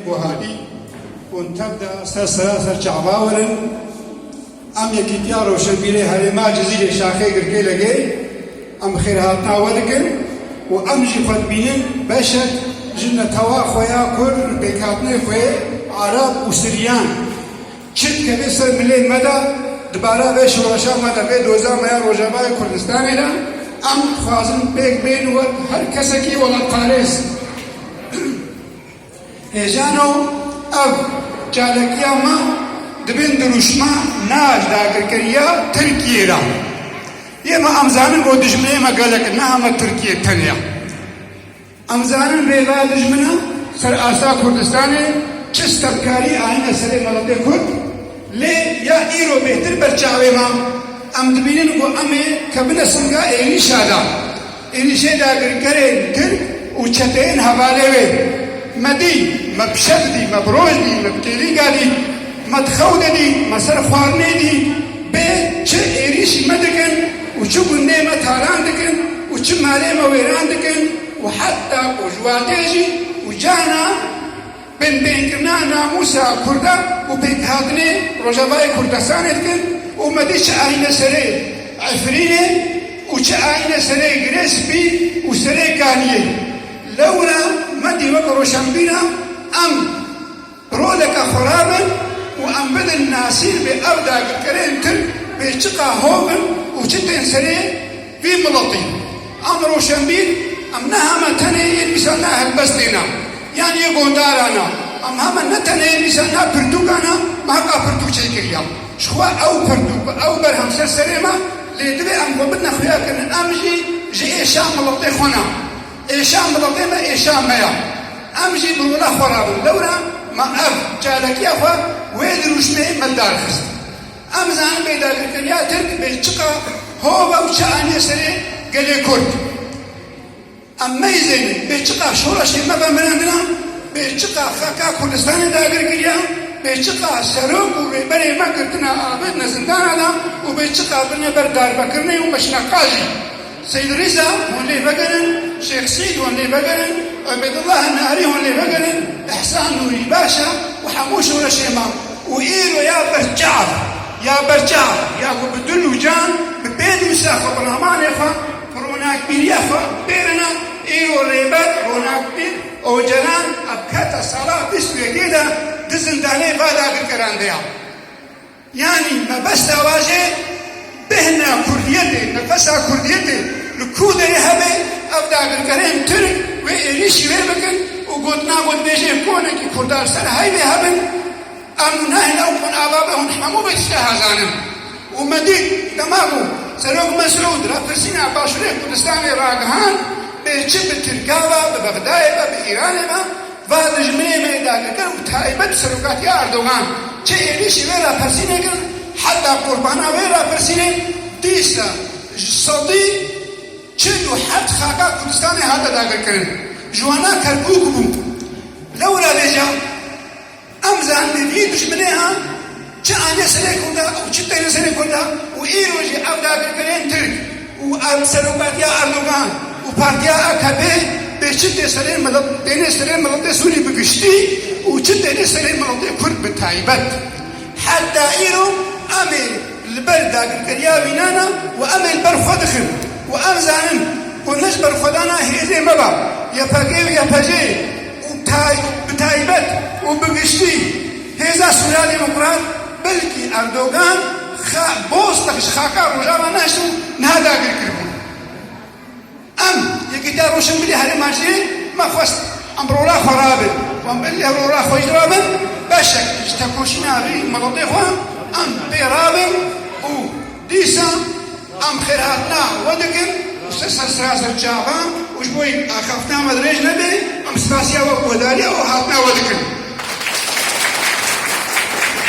Guhadî û Nteb de ser seraser çavawir in. Em Yekîtiya Rewşenbîrê Herêma Cizîrê Şaxê Girkêlegê em xêrhatina we dikin û em jî xwe dibînin beşek ji netewa xwe ya Kurd li pêkhatinê xwe yê Arab û Siryan. Çi dikeve ser milê me de di bara vê şoreşa me de, vê doza me ya Rojavayê Kurdistanê de em dixwazin pêk bên wek her kesekî welatparêz. Hêjano ev çalakiya me di bin dirûşma Naj dagirkeriya Tirkiyê ra ye ma em zanin bo dijminê me gelek e neha me Tirkiye tenya. Em zanin rêveya dijmina ser asta Kurdistanê çi stevkarî anîne serê miletê Kurd lê ya îro bêtir ber çavê me em dibînin ku em ê kevine singa êrîşa de Êrîşê dagirkerên tirk û çeteyên hevalê wê me dî, me bi şev dî, me bi roj dî, me bi kêlîga dî, me di xew de dî, me ser xwarinê dî, bê çi êrîşî me dikin û çi gundê me talan dikin û çi malê me wêran dikin û heta ku ji watê jî û cana Binpêkirina namûsa kurdan û pêkhatinê Rojavayê Kurdastanê dikin û me dît çi ayîne serê efirînê û çi ayîne serê girê spî û serê kaniyê. Lewra me dît wek roşenbîra em bi roleke xwe re bin û em bidin nasîn vê ew dagirkerên Tirk bê çiqa hov bin û çi tên serê Vî miletî a bi roşenbîr em ne heme tenê yê mîsa ne helbestê ne yan yê gondara ne em heme ne tenê yê mîsa ne pirtûka ne me heqa pirtûk çêkiriya ji xwe ew pirtûk bi ew berhem ser serê me lê divê em xwe bidine xuyakirin em jî ji êşa miletê xwe ne êşa miletê me êşa me ye em jî bi rola xwe re bin lewre me ev çalakiya xwe wê dirûşmeyê me darxist. Em dizanin bê dagirkeriya Tirk Belçika, Hova û çi anîye serê gelê Kurd. Em neyzêne Belçika şoreşê me be mirandina, Belçika xaka Kurdistanê dagir kiriya, Belçika serok û rêberê me girtina abêdine zindana de û Belçika birine ber darbekirinê û meşina qajê. Seyîd Rîza hûn lê vegerin, Şêx Seîd hûn lê vegerin, Ubeydullah Nahirî hûn lê vegerin, Îhsan Nûrî Başa û hemû şoreşê me û îro ya berçav, ya berçav, ya ku bi dil û can, bi pênûsa xwe, bi ramanê xwe, bi ronakbîriya xwe bêrine, îro Rêber, Ronakbîr, Ocalan a bi keta sala bîst û yekê de di zindanê Bada girkeran de ya. Yanî mebesta wajê bêhna kurdiyetê, nefesa kurdiyetê li ku de yê hebe, ev dagirkerên tirk wê êrîşî wê bikin û gotina gotbêjên konekî kurda li ser heyvê hebin, em û neh ew hûn ava be hûn hemû be tiştê hazanin. Û me dît dema ku Serok Mesûd rapirsîna Başûrê Kurdistanê ragihand bê çi bi Tirka be, bi Bexdayê be, bi Îranê be, Va dijminê me dagirin bi taybet serokatiya Erdogan çi êrîşî vê rapirsînê kirin heta qurbana vê rapirsînê dîsa ji sedî çil û heft xaka Kurdistanê hate dagirkirin ji wana Kerkûk bû. Lewra vêcan. Ev zehmê vî dijminê a çi ane serê Kurda û çi têne serê Kurda û îro jî ev dagirkerên Tirk û serokatiya Erdogan û partiya akp bê çi tê serê milet têne serê miletê Sûrî bi giştî û çi têne serê miletê Kurd bi taybet. Heta îro em ê li ber dagirkeriya vînan a û em ê li ber xwe dixin û em zanin ku ne ji ber xwedana hêzê me ba, YPG û YPJ'ê, û bi taybet û bi giştî hêza sûralî û kuran belkî Erdogan bostek ji xaka Rojava nehişt û niha dagir kiribûn. Em Yekîtiya Rojhilinbirî Herêma jî me xwest em rola xwe rabe û em belkî ev rola xwe jî rabin beşek ji tekoşîna rî miletê xwe em pê rabin û Dîsa em xêrhatina we dikin û ser serseraser çavan û ji bo wê axaftina me dirêj nebe em spasiya we û guhdarîya û hatina we dikin.